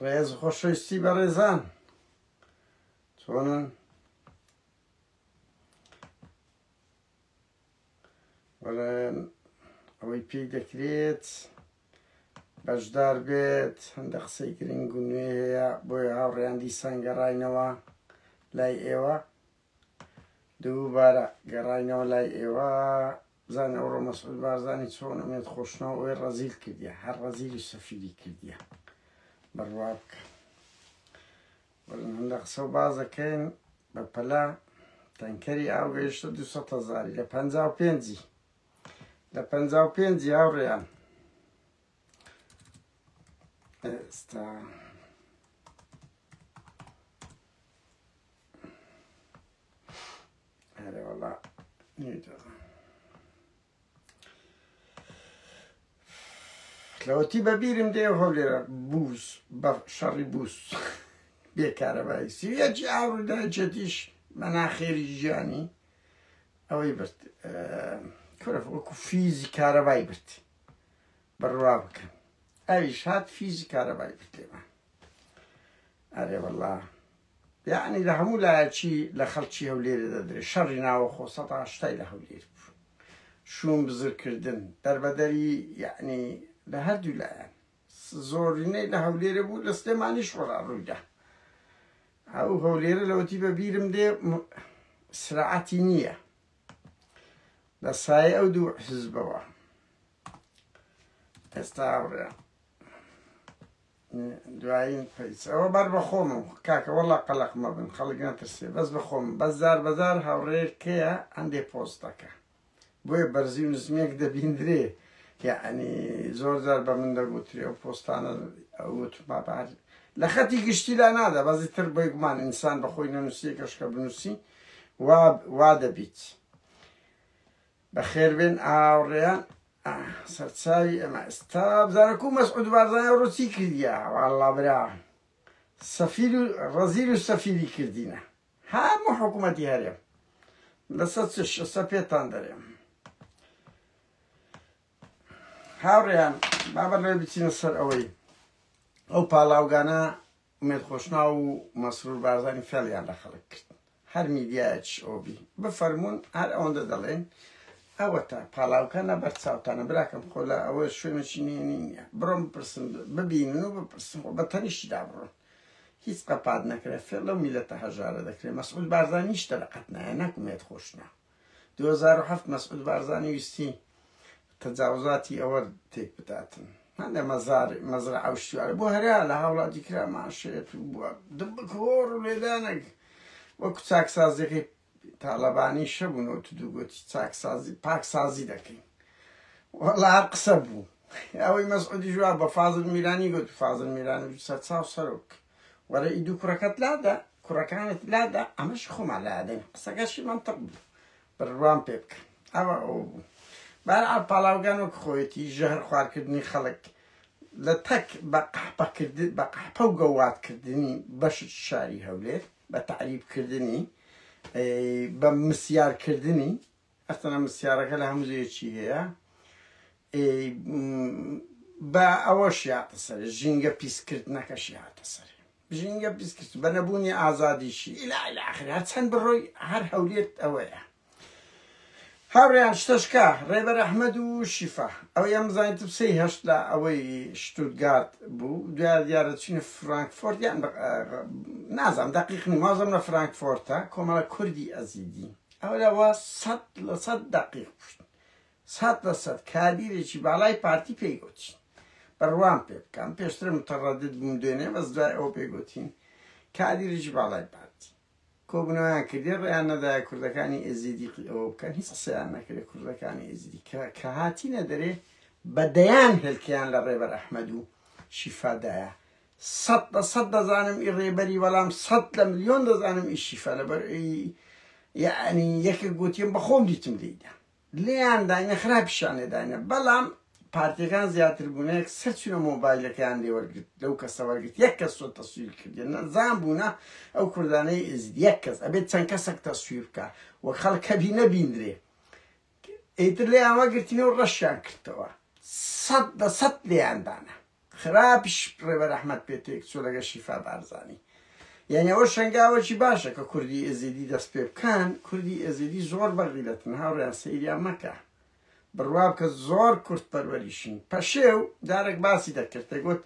ڕێز خۆشەویستی بەڕێزان چۆنن بەڵێن ئەوەی پێی دەکرێت بەشدار بێت هەندە قسەی گرنگ و نوێ هەیە بۆیە هاوڕێیان دیسان گەڕینەوە لای ئێوە دووبارە گەڕاینەوە لای ئێوە بزانە ئەوڕۆ مەسعود بارزانی چۆن ئەمێت خۆشنەوە ئەوێ ڕەزیل کردیە هەر ڕەزیلی سەفیری کردیە بڕوا بکە بەڵم هەندە قسە و بازەکەین بە پەلا تەنکەری ئاو گەیشتە دو هزاری لە پ پێنجی لە پ پێنجی هاوڕێیان ئێستا هەرێ وەڵا لەوەتی بەبیرم دێ هەولێرە بوز بە شەڕی بوس بێکارەبایی سیەتی ئاورداچێتیش مەناخێری ژیانی ئەوەی برد کورە وەکو فیزی کارەبای برد بڕوا بکەن ئەویش هات فیزی کارەبای برد لێمان ئەرێ وەڵا یەعنی لە هەموو لایەکی لە خەڵکی هەولێرێ دەدرێ شەڕی ناوەخۆ سەد ئاشتای لە هەولێر بوو شوون بزر کردن دەربەدەری یەعنی لە هەردوو لایەن زۆرینەی لە هەولێرێ بوو لە سلێمانیش وەڵا ڕوویدا ئەو هەولێرە لەوەتی بە بیرم دێ سراعەتی نییە لە سایە ئەو دوو حزبەوە ئێستا بڕێ دوایین پەیج ئەوە بەر بە خۆمم کاکە وەڵا قەلەق مەبن خەڵک نەترسێ بەس بە خۆمم بەس جار بە جار هاوڕێیەک کەیە هەندێ پۆست دەکا بۆیە بەرزی و نزمیەک دەبیندرێ یعنی زۆر جار بە من دەگوترێ ئەو پۆستانە وتما بە هەر لە خەتی گشتی لا نادا بەزی تر بۆی گومان ئینسان بەخۆی نەنووسیە گەشکە بنووسی وا دەبیت بەخێربێن ئاوڕێیان سەرچاوی ئەمە ئستا بزانەکو مەسعود بارزانە ڕۆ چی کردە واڵا برا سەفیر و ڕەزیر و سەفیری کردینە هەموو حکوومەتی هەرێم لەسەر چ شسە پێتان دەرێم هاوڕێیان بابەر لێ بچینە سەر ئەوەی ئەو پاڵاوگانە ئومێد خۆشناو و مەسرور بارزانی فێڵیان لە خەڵک کرد هەر میدیایەکیش ئەوە بی بفەرموون هەر ئەوەندە دەڵێن ئەوەتە پاڵاوکە نە بەر چاوتانە براکەم خۆ لە ئەوە شوێنێکی نێنی نییە بڕۆم بپرسن ببینن و بپرسن خۆ بە تەنیشتی دابڕۆن هیچ قەپات نەکرێ فێڵ لەو میلەتە هەژارە دەکرێ مەسعود بارزانیش تەلقەت نایە نەک ئومێد خۆشناو دوو هەزار و حەفت مەسعود بارزانی ویستی تەجاوزاتی ئەوە تێک بداتن هەندێ مەزار مەزرا ئەو شتیوارە بۆ هەرا لە هاوڵاتی کرا ماشێت و بووە دبکۆڕ و لێدانێک وەکو چاکسازیەکەی تاالبانی شەبوون و تو دووگوتی چاکسازی پاکسازی دەکەین وەڵا قسە بوو ئەوەی مەسعودی ژوا بە فازل میرانی گوت فازل میرانی سەرچاو سەرۆک کرد وەرە ئیدوو کوڕەکەت لادە کوڕەکانت لادە ئەمەش خۆمان لادەین قسەکەشی منطق بوو بڕوام پێ بکە ئەوە ئەو بوو بەرعا پاڵاوگان وەک خۆیەتی ژەهر خوارکردنی خەڵک لە تەک بە قەحپەکرد بە قەحپە و گەوادکردنی بەشت شاری هەولێر بە تعریبکردنی بە مسیارکردنی ئەستەنە مسیارەکە لە هەموو جێیەکی هەیە ئێ با ئەوەش یاتە سەرێ ژینگە پیسکردنەکەشی هاتە سەرێ ژینگە پیسکرد بە نەبوونی ئازادیشی ئیلا ئیلا ئاخر هەر چەند بڕۆی هەر هەولێر ئەوەیە هاوڕێیان شتەشکە ڕێبەر ئەحمەد و شیفا ئەو یان بزانین تپسەی هەشت لە ئەوەی شتوتگارد بوو دوای دیارە چینە فرانکفۆرت یان نازانم دەقیق نیم وازم لە فرانکفۆرتە کۆمەڵە کوردی ئەزیدی ئەولا وا سەد لە سەد دەقیق بوویت سەد لە سەد کادیرێکی باڵای پارتی پێی گۆتین بڕوام پێ بکە من پێشتر متەڕەدد بووم دوێنێ بەس دوای ئەوە پێی گۆتین کادیرێکی باڵای پارتی کۆبوونەوەیان کردی ڕێیان نەدایە کوردەکانی ئێزیدی ئەوە بکەن هیچ قسەیان نەکرێت کوردەکانی ئێزیدی کە کە هاتینە دەرێ بە دەیان هێلکەیان لە ڕێبەر ئەحمەد و شیفادایە سەد لە سەد دەزانم ئی ڕێبەری بەڵام سەد لە ملیۆن دەزانم ئی شیفە لەبەر یەعنی یەکێک گۆتیم بە خۆم دیتم لێیدا لێیان داینە خراپیشان لێ داینە بەڵام پارتیەکان زیاتر بوونە یەک سەر چونە مۆبایلەکەیان لێ وەرگرت لەو کەسە وەرگرت یەک کەس تۆ تەسویر کردێن نەزان بوونە ئەو کوردانەی ئێزید یەک کەس ئەبێت چەند کەسەک تەسویر بکە وە خەڵکەبی نەبیندرێ ئیتر لێیان وەگرتین و ڕەشیان کردەوە سەد لە سەد لێیان دانا خراپیش ڕێبەر ئەحمەد پێ تێکچوو لەگەڵ شیفا بارزانی یعنی ئەوە شەنگاوەکی باشە کە کوردی ئێزیدی دەست پێ بکەن کوردی ئێزیدی زۆر بەغیرەتن هاوڕیان سەیریان مەکە بڕوا بکە زۆر کورد پەروەریشین پەشێو جارێک باسی دەکرد دەگوت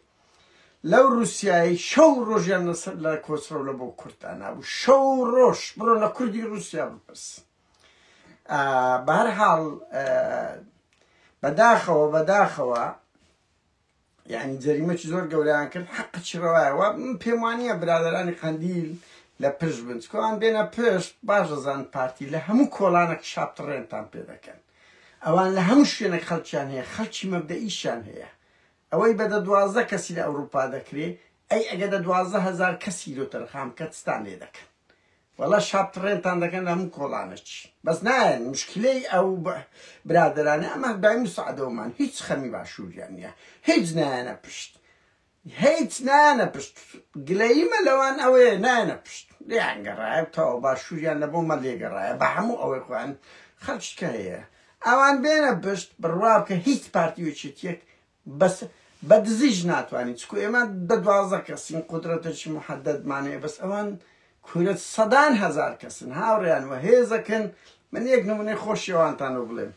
لەو رووسایی شەو ڕۆژیان لەسەر لە کۆچڕەو لە بۆ کوردانابوو شەو ڕۆژ بڕۆ لە کوردی رووسیا بپرسن بەهر حاڵ بەداخەوە بەداخەوە یعنی جەریمەکی زۆر گەوریان کرد حەقچی ڕەوایەوە پێم وانە برادرانی قندیل لە پشت بن چکۆان بێنە پشت باش دەزان پارتی لە هەموو کۆڵانێک شاپتڕێنتان پێ دەکەن ئەوان لە هەموو شوێنێک خەڵکیان هەیە خەڵکی مەبدەئیشیان هەیە ئەوەی بەدە دوازدە کەسی لە ئەوروپا دەکرێ ئەی ئەگە دە دوازدە هزار کەسی لۆ تەرخام کەتستان لێ دەکەن وەڵا شەڕ تڕێنتان دەکەن هەموو کۆڵانەچی بەس نایەن مشکلەی ئەو برادەرانە ئەمە دای مساعدەوەمان هیچ خەمی باشووریان نییە هیچ نایەنە پشت هیچ نایەنە پشت گلەیمە لەوان ئەوەیە نایەنە پشت لیان گەڕایە تەوە باشووریان لە بۆمە لێگەڕایە بە هەموو ئەوەی خۆیان خەرچکە هەیە ئەوان بێنە پشت بڕوا بکە هیچ پارتی وچێتیەک بەس بە دزیش ناتوانی چکو ئێمە دە دوازدە کەسین قودرەتێکی محەدەدمان هەیە بەس ئەوان کورە سەدان هەزار کەسن هاوڕێیان وە هێزەکن من یەک نمونەی خۆشی ئەوانتان بۆ بڵێم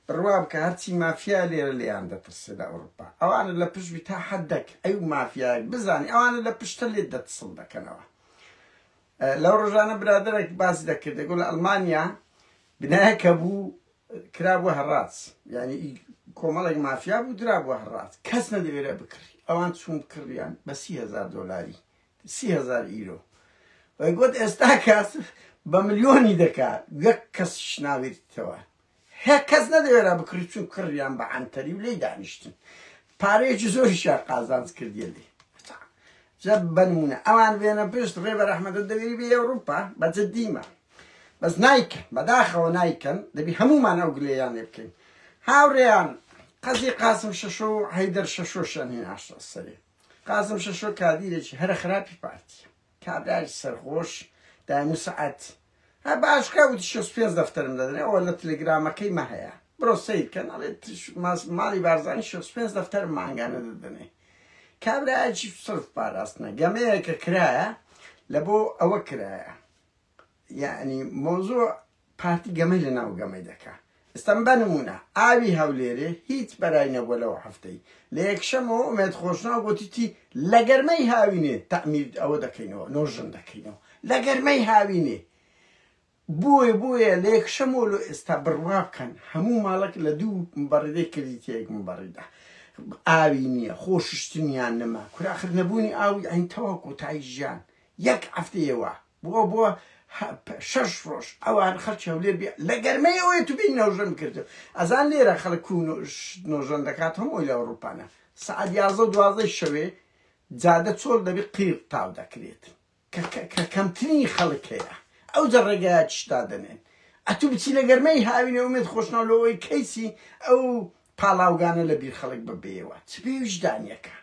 بڕوا بکە هەرچی مافیا لێرە لێیان دەترسێ لە ئەوروپا ئەوانە لە پشت بی تا حەدەک ئەی و مافیایەک بزانی ئەوانە لە پشتە لێت دەتسڵ دەکەنەوە لەو ڕۆژانە برادەرێک باسی دەکرد دەگوڵ لە ئەڵمانیا بنایەکە بوو کرابوە هەڕاج یانی ئی کۆمەڵێک مافیا بوو درابوە هەڕاج کەس نەدەوێرا بکڕی ئەوان چوون بکڕیان بە سی هەزار دۆلاری سی هەزار ئیرۆ وەی گوت ئێستا کەس بە ملیۆنی دەکات یەک کەسیش ناوێتەوە هەیە کەس نەدەوێرا بکڕی چوون کڕیان بە عەنتەری و لێی دانیشتن پارەیەکی زۆریشیان قازانج کردیە لێ هەتا جا بەنمونە ئەوان بێنە پشت ڕێبەر ئەحمەدو دەوێری بێ ئەوروپا بە جدیمە بەس نایکەن بەداخەوە نایکەن دەبی هەمومان ئەو گلەیان لێ بکەین هاوڕێیان قەزی قاسم شەشۆ و حەیدەر شەشۆشیان هێناشتە سەرێ قاسم شەشۆ کادیرێکی هەرە خراپی پارتیە کابرای سەرخۆش دایم و سەعەت. هە باش کە وتی شەست و پێنج دەفتەرم دەدەنێ ئەوە لە تلگرامەکەی مە هەیە برۆ سەیر کەن ئەڵێ ماڵی بارزانی شەست و پێنج دەفتەرم مانگانە دەدەنێ کابرایەکی سرف پاراستنە گەمەیەکە کرایە لە بۆ ئەوە کرایە یەعنی مەوزوع پارتی گەمەی لە ناو گەمەی دەکا ئێستا بە نموونە ئاوی هەولێرێ هیچ بەرای نەبووە لەو حەفتەی لە یەکشەمەوە ئومێد خۆشناو گوتیی لە گەرمەی هاوینێ تەعمیر ئەوە دەکەینەوە نۆژن دەکەینەوە لە گەرمەی هاوینێ بۆیە بۆیە لە یەکشەمەوە لۆ ئێستا بڕوا بکەن هەموو ماڵک لە دوو مبەڕێ کردیت یەک مبەڕیدا ئاوی نییە خۆششتنیان نەما کوراخر نەبوونی ئاوی ئەین تەواو کۆتایی ژیان یەک هەفتەیەوە بووە بۆ شەش ڕۆژ ئەوان خەڵکی هەولێر بێ لە گەرمەی ئەوەیە تو بێی نۆژەن بکردن ئەزان لێرە خەڵک کو نۆژەن دەکات هەمووی لە ئەوروپانە سەعات یازدە و دوازدەی شەوێ جادە چۆڵ دەبێت قیڕ تاو دەکرێت کە کەمترین خەڵک هەیە ئەو جە ڕێگایە چشتا دەنێن ئەتوو بچی لە گەرمەی هاوینە ومێت خۆشناو لەوەی کەیسی ئەو پاڵاوگانە لە بیر خەڵک ببێەوە چ پێ ویژدانیەکە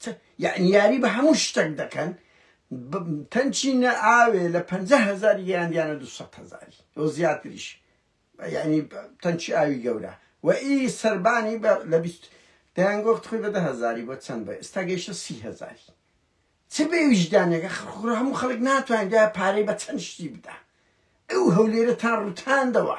چ یەعنی یاری بە هەموو شتەک دەکەن ب تەنچی نە ئاوێ لە پەنجا هەزاری گەیاندیانە دوو سەد هەزاری و زیاتریش یەعنی ب تەنچی ئاوی گەورە و ئی سەربانی بە لە بیست دەیان گۆفت خوی بە دە هەزاری بۆ چەند بە ئێستا گەیشتە سی هەزاری چ بێ ویژدانێکە خ خۆ هەموو خەڵک ناتوانێ دوایە پارەی بە چەند شتی بدا ئەو هەولێرەتان ڕوتاندەوە.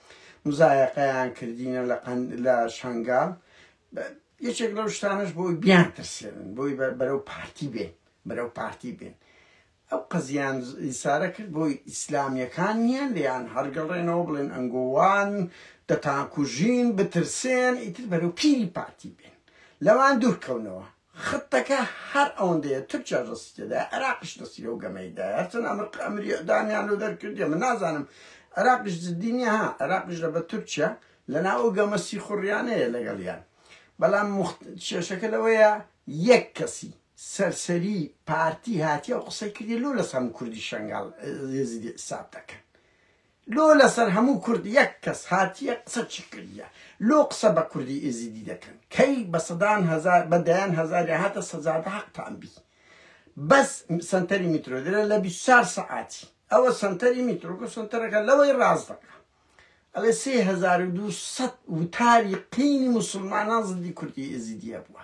مزایەقەیان کردینە لە قەند لە شەنگال بە یەکێک لەو شتانەش بۆی بیان ترسێنن بۆی بە- بەرەو پارتی بێن بەرەو پارتی بێن ئەو قەزیان ز- ئیسارە کرد بۆی ئیسلامیەکان نییە لێیان هەرگەڕێنەوە بڵێن ئەنگۆوان دەتانکوژین بترسێن ئیتر بەرەو پیری پارتی بێن لەوان دوورکەونەوە خطەکە هەر ئەوەندەیە تورکیا دەستی تێدایە عێراقیش دەستی لەو گەمەی دایە هەرچەند ئەمر ئەمری ئیعدامیان لۆ دەرکردیە من نازانم عێراقیش جدی نیە ها عێراقیش لە بە تورکیا لەناو ئەو گەمە سیخوڕیانەیە لەگەڵیان بەڵام مخت کێشەکە لەوەیە یەک کەسی سەرسەری پارتی هاتیە و قسەی کردی لۆ لەسەر هەموو کوردی شەنگال ئێزیدی حیساب دەکەن لۆ لەسەر هەموو کورد یەک کەس هاتیە قسەچی کردیە لۆ قسە بە کوردی ئێزیدی دەکەن کەی بە سەدان هەزار بە دەیان هەزاریان هاتە سەجادە حەقتان بی بەس سەنتەری میترۆ درە لە بیست چار سەعاتی ئەوە سەنتەری میترۆ گو سەنتەرەکە لەوەی ڕاست دەکا ئەڵێ سێ هەزار و دوو سەد وتاری قینی موسڵمانان زدی کوردی ئێزیدیە بووە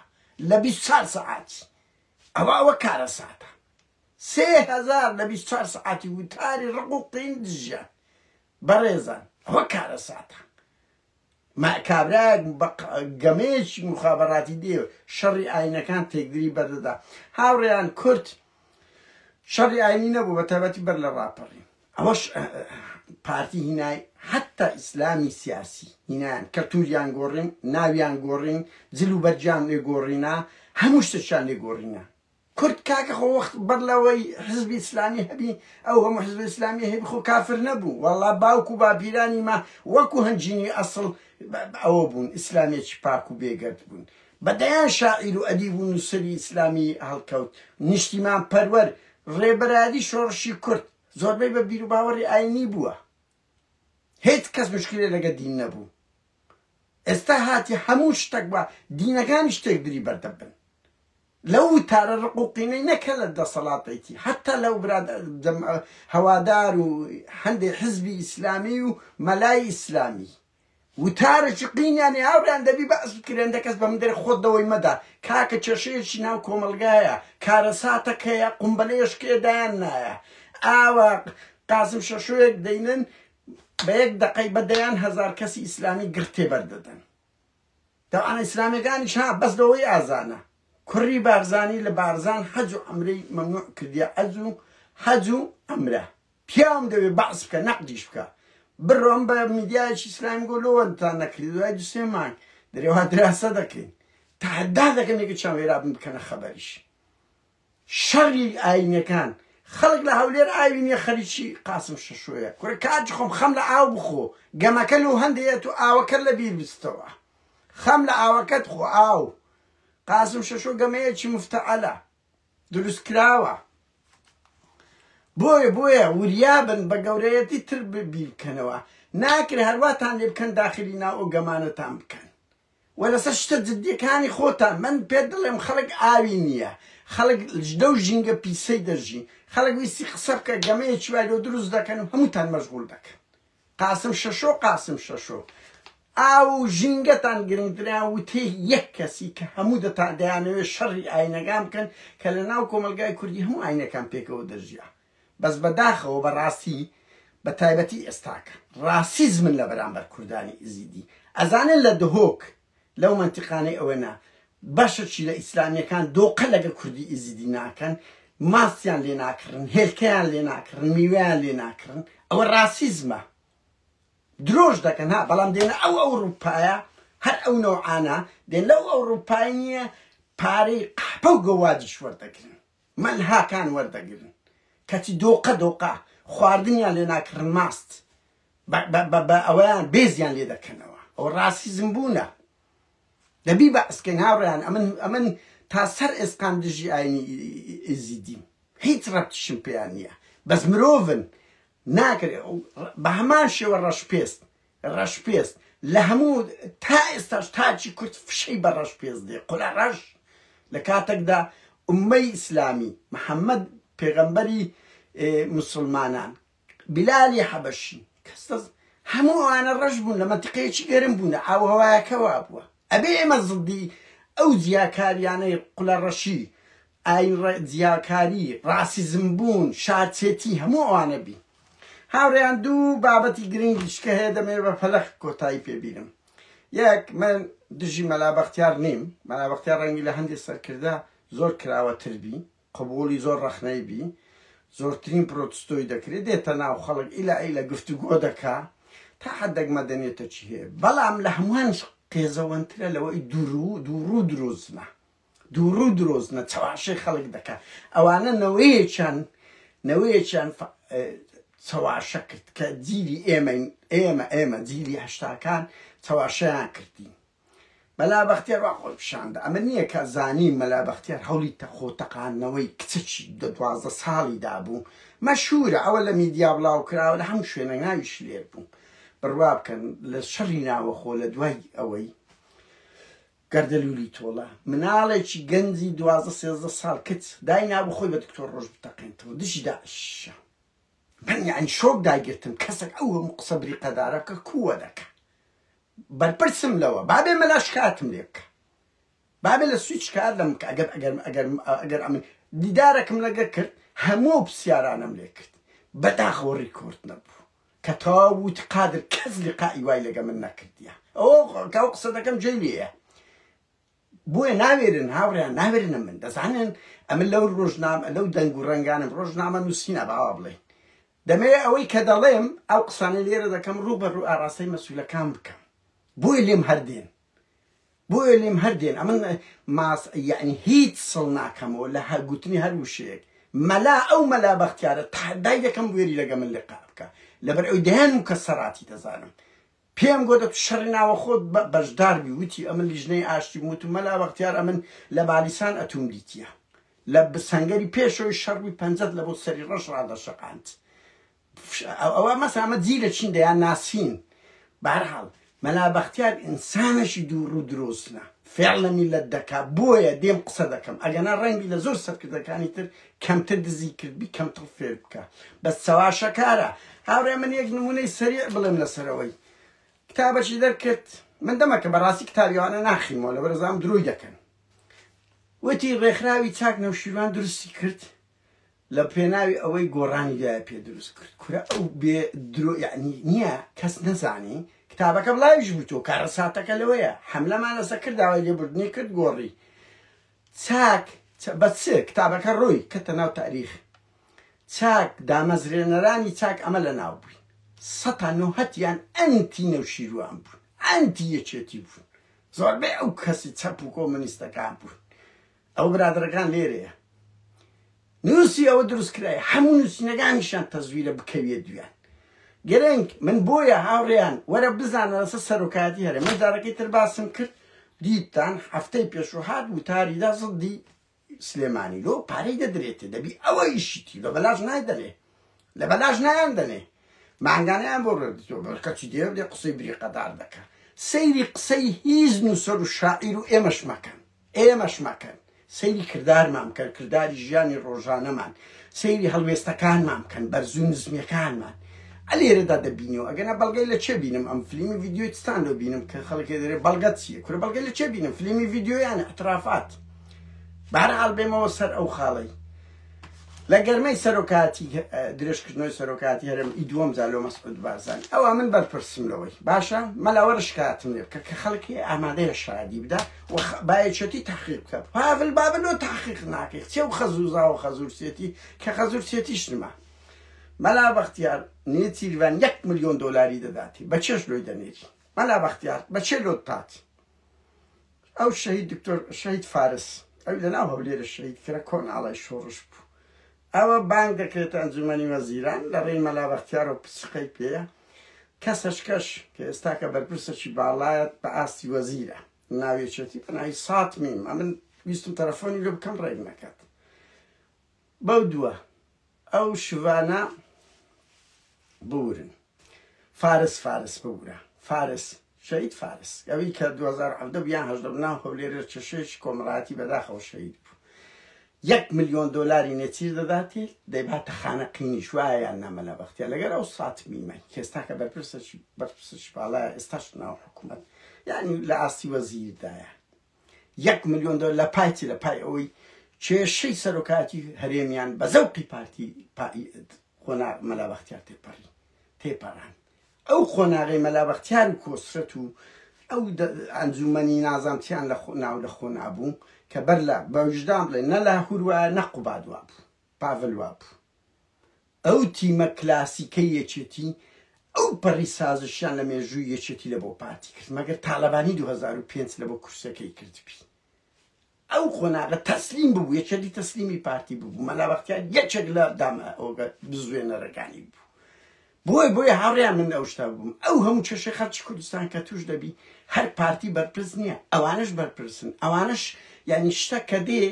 لە بیست چار سەعاتی ئەوە ئەوە کارەساتە سێ هەزار لە بیست چوار سەعاتی وتاری ڕق و قین دژیان بەڕێزان ئەوە کارەساتە ما کابرایەک بە گەمەیەکی مخابەڕاتی دێ شەڕی ئاینەکان تێکدری بەردەدا هاوڕێیان کورد شەڕی ئاینی نەبوو بە تایبەتی بەر لە ڕاپەڕی ئەوەش پارتی هینای حتا ئیسلامی سیاسی هینان کەلتوریان گۆڕین ناویان گۆڕین جل و بەرجیان لێ گۆڕینا هەموو شتەشان لێ گۆڕینا کورد کاکە خۆ وەخت بەر لەوەی حزبی اسلامی هەبی ئەو هەموو حزبە اسلامیە هەبی خۆ کافر نەبوو وەڵا باوک و باپیرانی ما وەکو هەنجینی ئەسڵ ئەوە بوون اسلامیەکی پاک و بێگەرد بوون بە دەیان شاعیر و ئەدیب و نوسەری اسلامی هەڵکەوت نیشتیمان پەروەر ڕێبەرادی شۆڕشی کورد زۆربەی بە بیر و باوەڕی ئاینی بووە هێچ کەس مشکلێ لەگە دین نەبوو ئێستا هاتی هەموو شتەک بە دینەکانی شتێک بری بەردەبن لەو وتارە ڕق و قینەی نەک هەر لە دەسەڵاتێکی هەتا لەو برا هەوادار و هەندێ حزبی ئیسلامی و مەلای ئیسلامی وتارێکی قینیانی هاوریان دەبی بەس بکرێن دەکەس بە مندێر خۆت دەوەی مەدا کاکە کێشەیەکی ناو کۆمەلگایە کارەساتەکەیە قمبلەیەشکێدایان نایە ئاوا قاسم شەشوێک دەینن بە یەک دەقەی بەدەیان هەزار کەسی ئیسلامی گرتێ بەردەدەن تاوانە ئیسلامیەکانیش ها بەس لەوەی ئازانە کوڕی بارزانی لە بارزان حەج و عەمرەی مەمنوع کردیە عەج و حەج و عەمرە پیاوم دەوێ بەعس بکە نەقدیش بکە بڕۆن بە میدیایەکی ئیسلامی گۆ لۆوەتان نەکردی دوای دو سێ مانگ دەرێ وا دراسە دەکەین تەحەدا دەکەم یەکێکیان وێرابن بکەنە خەبەریش. شەڕی ئاینەکان خەڵک لە هەولێر ئاوی نیە خەریکی قاسم شەشۆیە کورە کاج خۆم خەم لە ئاو بخۆ گەمەکە لەو هەندەیە تۆ ئاوەکەت لە بیر بچتەوە خەم لە ئاوەکەت خۆ ئاو قاسم شەشۆ گەمەیەکی مفتەعەلە دروست کراوە بۆیە بۆیە وریابن بە گەورەیەتی تر بیر بکەنەوە ناکرێ هەر واتان لێ بکەن داخلی ناو ئەو گەمانەتان بکەن وە لەسەر شتە جدیەکانی خۆتان من پێت دڵێم خەڵک ئاوی نیە خەڵک لەو ژینگە پیسەی دەژی خەڵک ویستی قسە بکە گەمەیەکی وای لۆ دروست دەکەن و هەموتان مەژغول دەکەن قاسم شەشۆ قاسم شەشۆ ئاو و ژینگەتان گرنگترە وتەی یەک کەسی کە هەموو دەتان دەیانەوێت شەڕی ئاینەکان بکەن کە لەناو کۆمەڵگای کوردی هەموو ئاینەکان پێکەوە دەژیا بەس بەداخەوە بەڕاستی بە تایبەتی ئێستاکە ڕاسیزمن لە بەرامبەر کوردانی ئیزیدی ئەزانن لە دهۆک لەو مەنتیقانەی ئەوێنە بەشەکی لە ئیسلامیەکان دۆقە لەگە کوردی ئیزیدی ناکەن ماستیان لێ ناکڕن هێلکەیان لێ ناکڕن میوەیان لێ ناکڕن ئەوە ڕاسیزمە درۆش دەکەن ها بەڵام دێنە ئەو ئەو ڕووپایە هەر ئەو نەوعانە دێن لەو ئەو ڕووپای نییە پارەی قەحپە و گەوادیش وەردەگرن مەل هاکان وەردەگرن کەچی دۆقە دۆقە خواردنیان لێ ناکڕن ماست بە بە ئەوەیان بێزیان لێ دەکەنەوە ئەو ڕاسیزم بوونە دەبی بە ئەسکەین هاوڕیان ئەمن ئەمن تا سەر ئێسقان دژی ئاینی ئێزیدیم هیچ ڕەتشم پێیان نییە بەس مرۆڤن ناکرێ بە هەمان شێوە ڕەش پێست ڕەشپێست لە هەموو تا ئێستاش تاکی کورد فشەی بە ڕەشپێست دێ قلە ڕەش لە کاتەکدا ئوممەی ئیسلامی محمد پێغەمبەری موسڵمانان بلالی حەبەشی کەس دەست هەموو ئەوانە ڕەش بوون لە مەنتقەیەکی گەرم بوون ئاو هەوایەکە وا بووە ئەبێ ئێمە زدی ئەو جیاکاریانەی قلە ڕەشی ئایڕە جیاکاری ڕاسیزم بوون شارچێتی هەموو ئەوانە بی هاوڕێیان دوو بابەتی گرنگ دیشکە هەیە دەمێ بە پەلەخ کۆتایی پێبینم یەک من دژی مەلا بەختیار نیم مەلا بەختیار ڕەنگی لە هەندێک سەرکردە زۆر کراوە تر بی قبولی زۆر ڕەخنەی بی زۆرترین پرۆتستۆی دەکرێت دێتە ناو خەڵک ئیلا ئیلا گفتوگۆ دەکا تا حدەک مەدەنێتە چی هەیە بەڵام لە هەمووان قێزەوەنترە لەوەی دوور و دووڕوو درۆزنە دووڕوو درۆزنە چەواشەی خەڵک دەکا ئەوانە نەوەیەکیان نەوەیەکیان چەواشە کرد کە جیلی ئێمەین ئێمە ئێمە جیلی هەشتاکان چەواشەیان کردین مەلا بەختیار وا خۆی پیشاندە ئەمە نییە کە زانی مەلا بەختیار هەولی تەخۆ تەقانەوەی کچەکی دە دوازدە ساڵی دابوو مەشهورە ئەوە لە میدیا بڵاو کراوە لە هەموو شوێنە ناویش لێر بوو بڕوا بکەن لە شەڕی ناوەخۆ لە دوای ئەوەی گەردەلوولی تۆڵە، مناڵێکی گەنجی دوازدە سێزدە ساڵ کچ، داینابوو خۆی بە دکتۆر ڕۆژ بتەقێنتەوە، دژی داعشە. من یانی شۆک داگرتم، کەسەک ئەو هەموو قسە بریقەدارەکە کووە دەکا؟ بەرپرسم لەوە، بابێ مەلا شکایەتم لێ بکا. بابێ لە سوید شکایەت لە من بکا، ئەگەر ئەگەر ئەگەر ئەگەر ئەمن دیدارەکم لەگە کرد، هەموو ئەو پرسیارانەم لێ کرد. بەداخەوە ڕیکۆرد نەبوو. کە تەواو ووتی قادر کەس لقائی وای لەگە من نەکردیە ئەوە کاو قسە دەکەم جێی لێیە بۆیە ناوێرن هاوڕێیان ناوێرنە من دەزانن ئەمن لەو ڕۆژنام لەو دەنگ و ڕەنگانم ڕۆژنامە نووسینە باوا بڵێن دەمێ ئەوەی کە دەڵێم ئەو قسانە لێرە دەکەم ڕوو بە ڕوو ئاراستەی مەسولەکان بکەم بۆی لێم هەردێن بۆیە لێم هەر دێن ئەمن ماس یعنی هیچ سڵ ناکەمەوە لە هەر گوتنی هەر وشەیەک مەلا ئەو مەلا بەختیارە تحدای دەکەم بوێری لەگە من لقا بکە لەبەر ئەوی دەیان و کە سەراتی دەزانم پێم گۆ دەت شەڕی ناوە خۆت بەشدار بی وتی ئەمن لیژنەی ئاشتی وت و مەلا بەختیار ئەمن لە بالیسان ئەتوم دیتیە لە سەنگەری پێشەوەی شەڕوی پەنجەت لە بۆ سەری ڕەش ڕادەشەقاند فشە ئەوە مەسە ئەمە جی لە چین دەیان ناسین بارحاڵ مەلا بەختیار ئینسانەشی دوو ڕوو درۆستە فێڵ لە میلەت دەکا بۆیە دێم قسە دەکەم ئەگەنا ڕەنگی لە زۆر سەرکردەکانی تر کەمتر دزی کردبی کەمتر فێر بکە بەس چەواشەکارە هاوڕێ من یەک نمونەی سەریع بڵێم لەسەرەوەی کتابەشی دەرکرد من دەمەکە بەڕاستی کتابیوانە ناخیمەوە لە بەرزام درۆی دەکەن وتی ڕێکخراوی چاک نەوشیروان درستی کرد لە پێناوی ئەوەی گۆڕانی دوای پێ دروست کرد کورە ئەو بێ درۆ یەعنی نییە کەس نەزانی کتابەکە بڵاویش بووتەوە کارەساتەکە لەوەیە حەملەمان لەسە کرد داوای لێبوردنی کرد گۆڕی چاک بە چ کتابەکە ڕووی کەتە ناو تاریخ چاک دامەزرێنەرانی چاک ئەمە لە ناو بووین سەتا نۆهەتیان ئەنتی نەوشیروان بوون ئەنتی یەکێتی بوون زۆربەی ئەو کەسی چەپ و کۆمەنیستەکان بوون ئەوە برادەرەکان لێرەیە نوسی ئەوە دروست کرای هەموو نووسینەکانیشان تەزویرە بکەویە دویان گرنگ من بۆیە هاوڕێیان وەرە بزانە لەسە سەرۆکایەتی هەرێ من جارەکەی تر باسم کرد دیتان هەفتەی پێشوهات وتاریدا زدی سلێمانی لۆ پارەی دەدرێتێ دەبی ئەوە ئیشیتی لە بەلاش نایدەنێ لە بەلاش نایان دەنێ مانگانیان بۆ ڕێکەچی دێ دێ قسەی بریقەدار دەکە سەیری قسەی هیچ نووسەر و شاعیر و ئێمەش مەکەن ئێمەش مەکەن، سەیری کردارمان بکەن، کرداری ژیانی ڕۆژانەمان، سەیری هەڵوێستەکانمان بکەن، بەرزو نزمیەکانمان لێرەدا دەبینیەوە، ئەگەرنا بەڵگەی لە چێ بینم ئەم فلیمی ڤیدیۆی چتان لۆ بینم کە خەڵک دەرێ بەڵگەت چیە، کورە بەڵگەی لە چێ بینم فلیمی ڤیدیۆ یان ئیعترافات، بەهەرحاڵ بێمەوە سەر ئەو خاڵەی. لە گەرمەی سەرۆکاتی درێژکردنەوەی سەرۆکاتی هەرم ئی دووەم جا لۆ مەسعود بارزانی ئەوە من بەرپرسم لەوەی باشە مەلاوەرە شکاتم لێ بکە کە خەڵکی ئامادەیە شادی بدا بایەچەتی تحقیق بکە پاڤل بابل و تحقیق ناکەی چێ و خەزوزا و خەزورسێتی کە خەزورسێتیش نما مەلا بەختیار نێچیروان یەک ملیۆن دۆلاری دەداتی بە چێش لۆی دەنێری مەلا بەختیار بە چێ لۆت تاتی ئەو شەهید دکتۆر شەهید فارس ئەوی لە ناو هەولێرە شەهید کرا کۆناڵی شۆڕش بوو ئەوە بانگ دەکرێتە ئەنجومەنی وەزیران لە ڕێی مەلا بەختیار و پچقەی پێیە کەسەشکەش کە ئێستاکە بەرپرسەکی باڵایەت بە ئاستی وەزیرە ناوێچێتی بە ناوی سات میم ئەمن ویستم تەلەفۆنی لێ بکەم ڕێک نەکات بەو دووە ئەو شڤانە بوورن فارس فارس ببورە فارس شەهید فارس ئەوی کە دوو هەزار و حەڤدە یان هەژدە بوو ناو هەولێرێ چ شێکی کۆمەڵایەتی بەداخەوە شەهید بوو یەک ملیۆن دۆلاری نێچیر دەداتی دەیباتە خانە قینیش وایە یان نا مەلا بەختیار لەگەر ئەو سات میمە کێستا کە بەرپرسەکی بەرپرسەکی باڵایە ئێستاش ناو حکوومەت یانی لە ئاستی وەزیردایە یەک ملیۆن دۆلار لە پای چی لە پای ئەوەی کێشەی سەرۆکایەتی هەرێمیان بە زەوقی پارتی قۆناغ مەلا بەختیار تێپەڕی تێپەڕان ئەو قۆناغی مەلا بەختیار و کۆسرەت و ئەو ئەنجومەنی نازانتیان لە ناو لە خۆ نابوو کە بەر لە بەویژدان بڵێ نە لاهور وایە نە قوباد وابوو پاڤل وابوو. ئەو تیمە کلاسیکەی یەکێتی ئەو پەڕی سازشیان لە مێژووی یەکێتی لە بۆ پارتی کرد، مەگەر تالەبانی دوو هەزار و پێنج لە بۆ کورسیەکەی کردبی. ئەو قۆناغە تەسلیم ببوو، یەکێتی تەسلیمی پارتی ببوو، مەلا بەختیار یەکێک لە دامە ئۆگە بزوێنەرەکانی بوو. بۆیە بۆیە هاوڕێیان من ئەو شتە بووم. ئەو هەموو کێشەی خەڵکی کوردستان کە تووش دەبی، هەر پارتی بەرپرس نییە، ئەوانەش بەرپرسن. ئەوانەش یانی شتە کە دێ،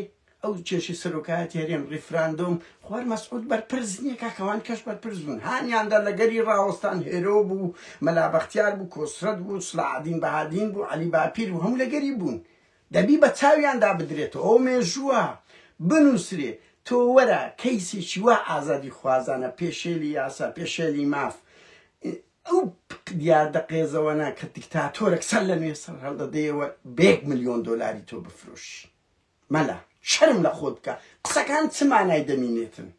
ئەو کێشەی سەرۆکایەتی هەرێم، ڕیفراندۆم، خوار مەسعود بەرپرس نیە کاکە ئەوان کەش بەرپرس بوون هانیاندا لە گەلی ڕاوەستان هێرۆ بوو مەلا بەختیار بوو کۆسرەت بوو سلاحەدین بەهادین بوو عەلی باپیر بوو هەموو لە گەلی بوون دەبی بە چاویاندا بدرێتەوە ئەو مێژووە بنووسرێ تۆ وەرە کەیسێکی وا ئازادی خوازانە پێشێلی یاسا پێشێلی ماف ئەو دیاردە قێزەوەنە کە دیکتاتۆرەک سەر لە نوێ سەر هەڵدەدەیەوە بە یەک ملیۆن دۆلاری تۆ بفرۆشی مەلا شەرم لە خۆت بکە قسەکان چ مانای دەمینێتن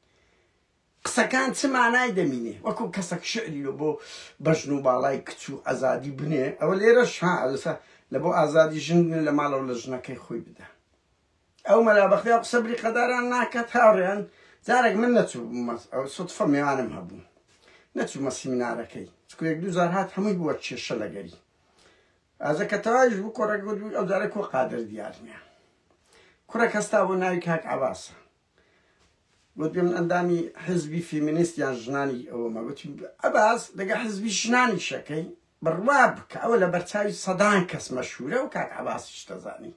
قسەکان چ مانای دەمینێ وەکو کەسەک شعری لۆ بۆ بەژن و باڵای کچ و ئازادی بنێ ئەوە لێرە شا لەسە لە بۆ ئازادی ژن بنێ لە ماڵەوە لە ژنەکەی خۆی بدە ئەو مەلا بەختیا قسە بری قەداران ناکات هاوڕێیان جارێک من نەچوو ئەو سوتفە میوانم هەبوو نەچوومە سیمینارەکەی چکوێک دوو جار هات هەمووی بووە کێشە لەگەری ئازە کە تەواویش بوو کۆڕەکە گوت بووی ئەوجارە کۆ قادر دیار نیە کوڕێک هەستا بۆ ناوی کاک عەباسە گوت بێ من ئەندامی حزبی فیمینیست یان ژنانی ئەوەمە گوتی ئەباس دەگە حزبی ژنانی شەکەی بڕوا بکە ئەوە لە بەرچاوی سەدان کەس مەشهورە و کاک عەباسیش دەزانی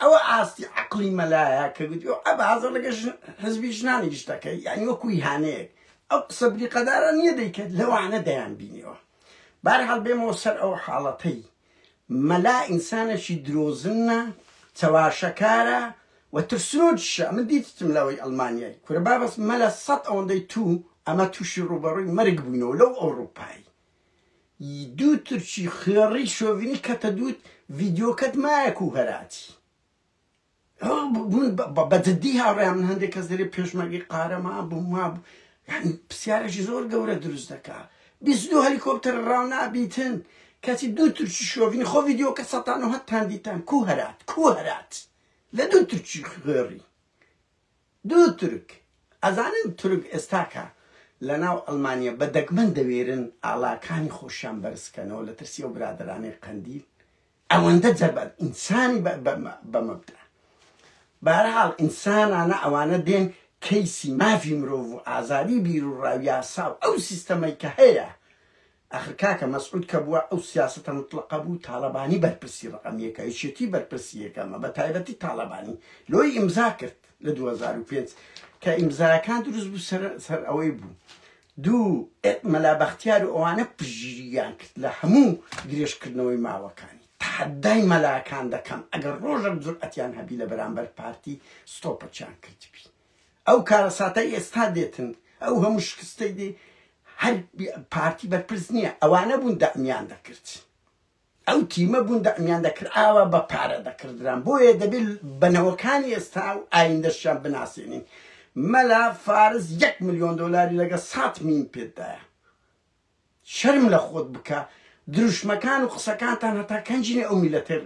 ئەوە ئاستی عقلی مەلایە کە گوتی ئەو ئەبازە لەگە حزبی ژنانیش دەکەی یعنی وەکوی هانەیەک ئەو قسە بریقەدارە نییە دەیکرد لەوانە دەیان بینیەوە بەهەرحاڵ بێمەوە سەر ئەو حاڵەتەی مەلا ئینسانەکی درۆزنە چەواشەکارە و ترسنۆکیشە ئەمن دیتتم لەوەی ئەڵمانیای کورە بابەس مەلا سەد ئەوەندەی تو ئەمە تووشی ڕوبەڕووی مەرگ بووینەوە لەو ئەوڕوپای دوو ترچی خوێڕی شۆڤینی کەتە دووت ڤیدیۆکەت مایە کو هەراتی بە جدی هاوڕێیان من هەندێک کەس دەرێ پێشمەرگی قارەمان بووم وا بوو یعنی پرسیارێکی زۆر گەورە دروست دەکا بیست دو هەلیکۆپتەر ڕاو نابیتن کەچی دوو ترکی شۆڤینی خۆ ڤیدیۆکە سەتان و هەتتان دیتان کو هەرات کو هەرات لە دوو ترکی خوێڕی دوو ترک ئەزانن ترک ئێستاکە لە ناو ئەلمانیا بە دەگمەن دەوێرن ئاڵاکانی خۆشیان بەرزکەنەوە لە ترسی و برادرانی قەندیل ئەوەندە جەبەن ئینسانی بە مەبدا بارحاڵ ئینسانانە ئەوانە دێن کەیسی مافی مرۆڤ و ئازادی بیر و ڕاو یاسا و ئەو سیستەمەی کە هەیە ئەخر کاکە مەسعود کە بووە ئەو سیاسەتە مطلقە بوو تاڵەبانی بەرپرسی ڕقم یەکە یەکێتی بەرپرسی یەکەمە بە تایبەتی تاڵەبانی لۆی ئیمزا کرد لە 2005 کە ئیمزاکان دروست بوو سەر سەر ئەوەی بوو دوو، مەلا بەختیار و ئەوانە پشتگیرییان کرد لە هەموو درێژکردنەوەی ماوەکانی. تەحەدای مەلاکان دەکەم ئەگەر ڕۆژەک جورئەتیان هەبی لە بەرامبەر پارتی ستۆپەکیان کردبی. ئەو کارەساتەی ئێستا دێتن، ئەو هەموو شکستەی دێ هەر پارتی بەرپرس نییە، ئەوانە بوون دەعمیان دەکرد. ئەو تیمە بوون دەعمیان دەکرد ئاوا بە پارە دەکردران بۆیە دەبێت بە نەوەکانی ئێستا و ئایندەشیان بناسێنین مەلا فارس یەک ملیۆن دۆلاری لەگە سات مین پێدایە شەرم لە خۆت بکە دروشمەکان و قسەکانتان هەتا کەنجینە ئەو میلەتێ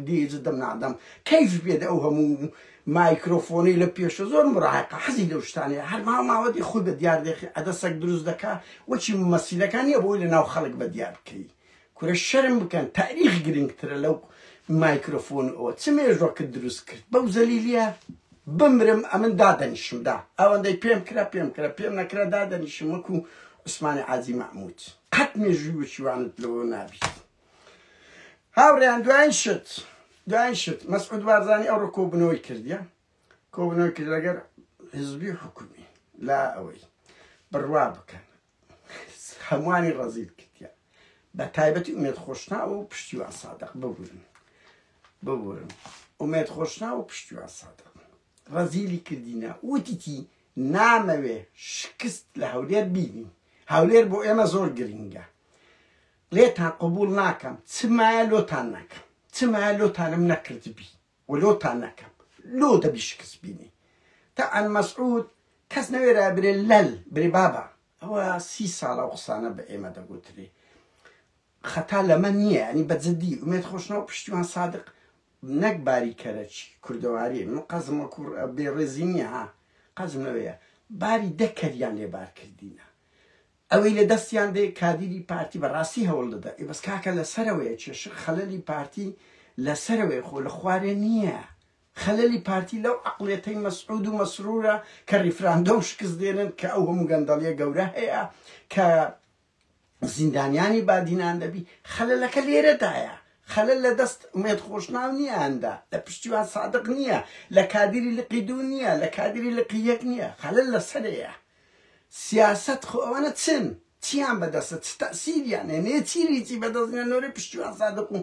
دیجە دەم نادەم کەیف بێت ئەو هەموو مایکرۆفۆنی لە پێشە زۆر مڕاقە حەزی لەو شتانەیە هەر ماوە ماوەتی خود بە دیاردێخی ئەدەسەک دروست دەکا وەچی مەسیلەکان نیە بۆی لە ناو خەڵک بە دیار بکەی کورە شەرم بکەن تاریخ گرنگترە لەو مایکرۆفۆن ئەوە چ مێژوەکە دروست کرد بەو زەلیلیە بمرم ئەمن دادەنیشم دا ئەوەندەی پێم کرا پێم کرا پێم نەکرا دادەنیشم وەکو عوسمانی عازی مەحمود قەت مێژوی وەچوانت لەوە نابیت هاوڕیان دوایین شت دوایین شت مەسعود بارزانانی ئەوڕۆ کۆبنەوەی کردیە کۆبنەوەی کرد لەگەر حزبی حکومی لا ئەوەی بڕوا بکەن هەمووانی ڕەزیل کردیان بە تایبەتی ئومێد خۆشناوە و پشتیوان سادق ببورن ببورن ئومێد خۆشناوە و پشتیوان سادق ڕەزیلی کردینە وتیتی نامەوێ شکست لە هەولێر بینی هەولێر بۆ ئێمە زۆر گرنگە لێتان قبول ناکەم چمایە لۆتان ناکەم چمایە لۆتانم نەکردبی ولۆتان نەکەم لۆ دەبی شکست بینی تەعەن مەسعود کەس نەوێرا برێ لەل برێ بابە ئەوە سی ساڵە ئەو قسانە بە ئێمە دەگوترێ خەتا لەمە نییە ینی بە جدی ئومێد خۆشنەوە پشتیوان سادق نەک باری کەرەچی کوردەواری من قەزم وەکو بێڕێزی نییە ها قەزم لەوەیە باری دە کەریان لێبار کردینە ئەوەی لە دەستیان دێ کادیری پارتی بە ڕاستی هەوڵ دەدا ئێ بەس کاکە لە سەرەوەیە چێشخ خەلەلی پارتی لە سەرەوەیە خۆ لە خوارێ نیە خەلەلی پارتی لەو عەقڵیەتەی مەسعود و مەسرورە کە ڕیفراندۆم شکست دێنن کە ئەو هەموو گەندەڵیە گەورە هەیە کە زیندانیانی بادینان دەبی خەلەلەکە لێرەدایە خەلەل لە دەست ئومێد خۆشناو نییاندا لە پشتیوان سادق نییە لە کادیری لقی دوو نییە لە کادیری لقی یەک نییە خەلەل لە سەرەیە سیاسەت خۆ ئەوانە چن چیان بەدەستە چ تەئسیریان هەیە نێچیر هیچی بەدەست نیە نۆرەی پشتیوان سادق و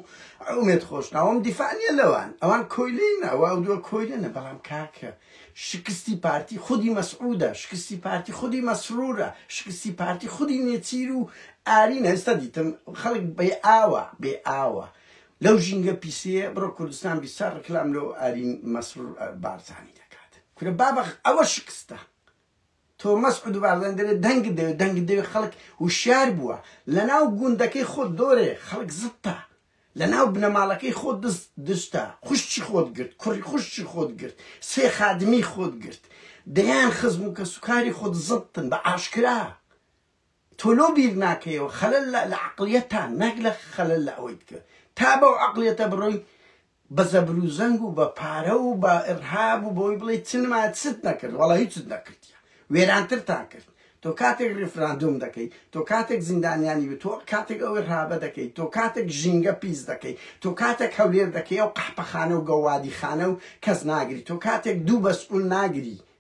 عومێد خۆش ناوم دیفاع نیە لەوان ئەوان کۆیلەی نە وا دوە کۆیلە نە بەڵام کاکە شکستی پارتی خودی مەسعودە شکستی پارتی خودی مەسرورە شکستی پارتی خودی نێچیر و ئارینە ئێستا دیتم خەڵک بێ ئاوە بێ ئاوە لەو ژینگە پیسەیە بڕۆ کوردستان بیسا ڕکلام لۆ ئارین مەسرور بارزانی دەکات کورە بابە ئەوە شکستە تۆ مەسعود بارزانی دەلێ دەنگت دەوێ دەنگت دەوێ خەڵک وشیار بووە لەناو گوندەکەی خۆت دۆرێ خەڵک زتە لەناو بنەماڵەکەی خۆت دست دشتە خوشتی خۆت گرت کوڕی خوشتی خۆت گرت سێ خادمی خۆت گرت دەیان خزم و کەسوکاری خۆت زتن بە ئاشکرا تۆ لۆ بیر ناکەیەوە خەلەل لە لە عەقڵیەتتا نەک لە خەلەل لە ئەوەی تکە تا بەو عەقڵیەتە بڕۆی بە زەبرو زەنگ و بە پارە و بە ئرهاب و بەوەی بڵێی چ نما چت نەکرد وەڵا هیچت نەکردیە وێرانترتان کرد تۆ کاتێک ریفراندۆم دەکەی تۆ کاتێک زیندانیانی و تۆ کاتێک ئەو ئرهابە دەکەی تۆ کاتێک ژینگە پیس دەکەی تۆ کاتێک هەولێر دەکەی ئەو قەحپەخانە و گەوادیخانە و کەس ناگری تۆ کاتێک دوو بەسئول ناگری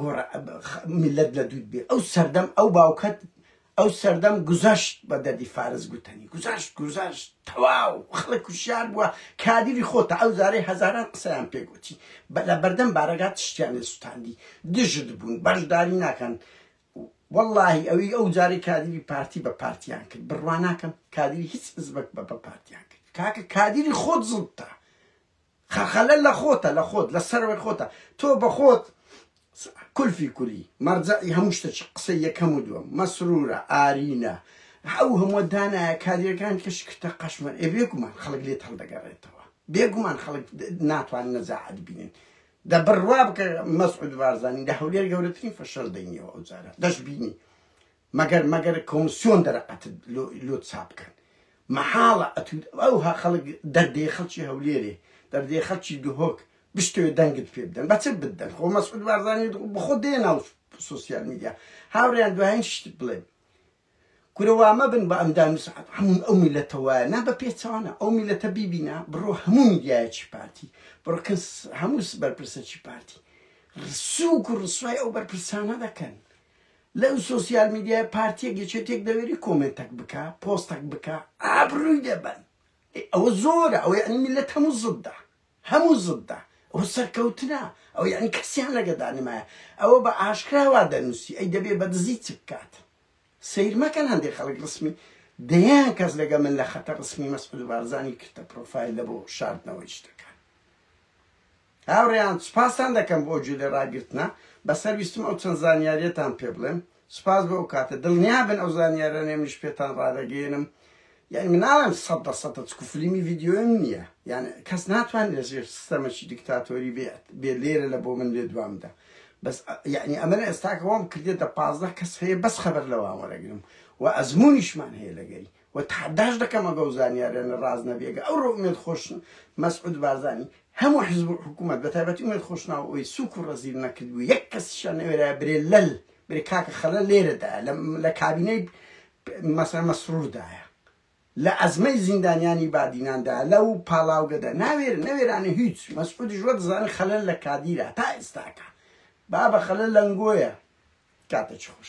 گۆڕ میلەت لە دوود بێ ئەو سەردەم ئەو باوکەت ئەو سەردەم گوزەشت بە دەدی فارس گوتەنی گوزەشت گوزەشت تەواو خەڵک کوشیار بووە کادری خۆتە ئەو زارەی هەزاران قسەیان پێگوتی بە لە بەردەم بارەگات تشتیان لێ سوتاندی دژت بوون بەشداری ناکەن واللهی ئەوی ئەو جاری کادری پارتی بە پارتیان کرد بڕواناکەم کادری هیچ زبک بە بە پارتیان کرد کاکە کادری خۆت زڵتە خەلخەلە لە خۆتە لە خۆت لە سەروەی خۆتە تۆ بە خۆت کلفی کولی مەرجەعی هەموو شتەکی قسەی یەکەم و دووەم مەسرورە ئارینە ئەو هەموو دانایە کادیرەکان کە شکرتە قەشمەر ئێ بێگومان خەڵک لێت هەڵدەگەڕێتەوە بێگومان خەڵک ناتوان نەزاعەت بینن دە بڕوا بکە مەسعود بارزانی لە هەولێر گەورەترین فەشەل دەینیەوە ئەو جارە دەشبینی مەگەر مەگەر کۆمسیۆن دەرەقەت لۆت چابکەن مەحاڵە ئەتود ئەوها خەڵک دەردێ خەڵکی هەولێرێ دەردێ خەڵکی دهۆک بشتوێ دەنگت پێ بدەن بەچ بدەن خۆ مەسعود بارزانی بخۆ دێ ناو سوسیال میدیا هاوریان دوایین شت بڵێ کورەوا مەبن بە ئەمدا مسعات هەموو ئەو میلەتە وایە نا بە پێچوانە ئەو میلەتە بیبینە بڕۆ هەموو میدیایەکی پارتی بڕکەس هەمووس بەرپرسەکی پارتی ڕسوک و ڕسوای ئەو بەرپرسانە دەکەن لەو سۆسیال میدیای پارتیەک یەکێتێک دەوێری کۆمێنتەک بکە پۆستەک بکە ئابرووی دەبەن ئەوە زۆرە ئەوەی ئەنی میلەت هەموو زددا هەموو زددا ئەو سەرکەوتنە ئەو یعنی کەسیان لەگەدا نمایە ئەوە بە ئاشکراوا دەنووسی ئەی دەبێ بە دزی چ بکات سیر مەکەن هەندێک خەڵک ڕسمی دەیان کەس لەگە من لە خەتە ڕسمی مەسعود بارزانانی کردە پرۆفایل لە بۆ شاردنەوەی شتەکان هاورێیان سوپاستان دەکەم بۆ ئەو جۆلە راگرتنە بەسەر ویستم ئەو چەند زانیاریەتان پێ بڵێم سوپاس بۆ ئەو کاتە دڵنیابن ئەو زانیارانەی منیش پێتان رادەگەیەنم یانی من ناڵێم سەد بە سەدە چکو فلیمی ڤیدیۆیم نیە یان کەس ناتوان لە ژێر سیستەمەکی دیکتاتۆری بێت بێ لێرە لە بۆ من لێ دوامدا بەس یعنی ئەمە لە ئێستاکەوەم کردێتە پازدە کەس هەیە بەس خەبەر لەوان وەرەگرم و ئەزمونیشمان هەیە لەگەری وە تەحەداش دەکەم ئەگەو زانیاریانە ڕاست نەبی ئەگە ئەوڕۆ ئومێد خۆش مەسعود بارزانی هەموو حزب و حکومەت بە تایبەتی ئومێد خۆشناو ئەوەی سوک و ڕەزیل نەکردبوو یەک کەسیشان نەوێرایە برێ لەل برێ کاکە خەلە لێرەدایە لە کابینەی مەسەن مەسروردایە لە ئەزمەی زیندانیانی بادیناندا لەو پاڵاوگەدا ناوێر نەوێرانە هیچ مەسعودیش وە دەزانە خەلەل لە کادیرە تا ئێستاکە بابە خەلە لەنگۆیە کاتە چ خۆش